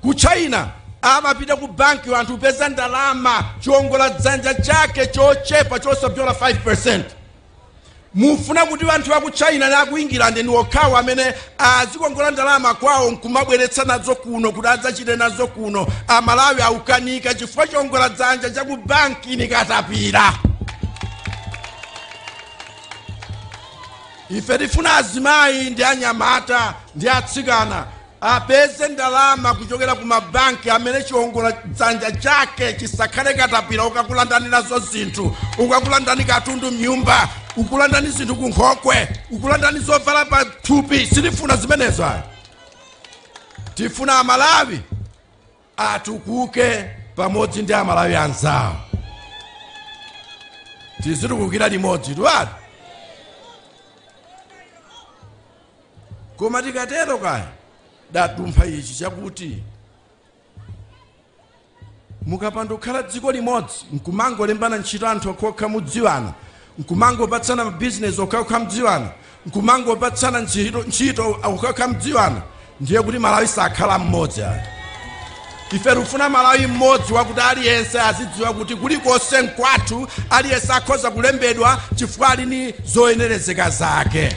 Ku China amapita ku banki anthu kupeza ndalama chiongola dzanja chake chochepa chosapyola 5%. Mufuna kuti anthu wa ku China ni a ku England ni okhawo amene azikongola ndalama kwawo nkumabweretsa nazo kuno kuti adzachite nazo kuno. Amalawi aukanika chifukwa chiongola dzanja cha ku banki ni katapira. ife tifuna azimayi ndi anyamata ndi atsikana Apeze ndalama kuchokera ku ma bank amene chiongola dzanja chake chisakhale katapira ukakulandani nazo zinthu, ukakulandani katundu mnyumba, kukulandani zinthu ku nkhokwe, kukulandani zovala pa thupi. Sitifuna zimenezo ayi. Tifuna Amalawi atukuke pamodzi ndi Amalawi anzawo. Tizitukukira limodzi tuwatu. koma tikatero kaya dadumpha ichi chakuti mukapanda kukhala dziko limodzi nkumangolembana ntchito anthu okhokha mudziwana nkumangopatsana bizinesi okhokha mudziwana nkumangopatsana ntchito okhokha mudziwana ndiye kuti malawi sakhala mmodzi ayi ife tikufuna malawi mmodzi wakuti aliyense azidziwa kuti kulikonse nkwathu aliyense akhoza kulembedwa chifukwa ali ni zoyenerezeka zake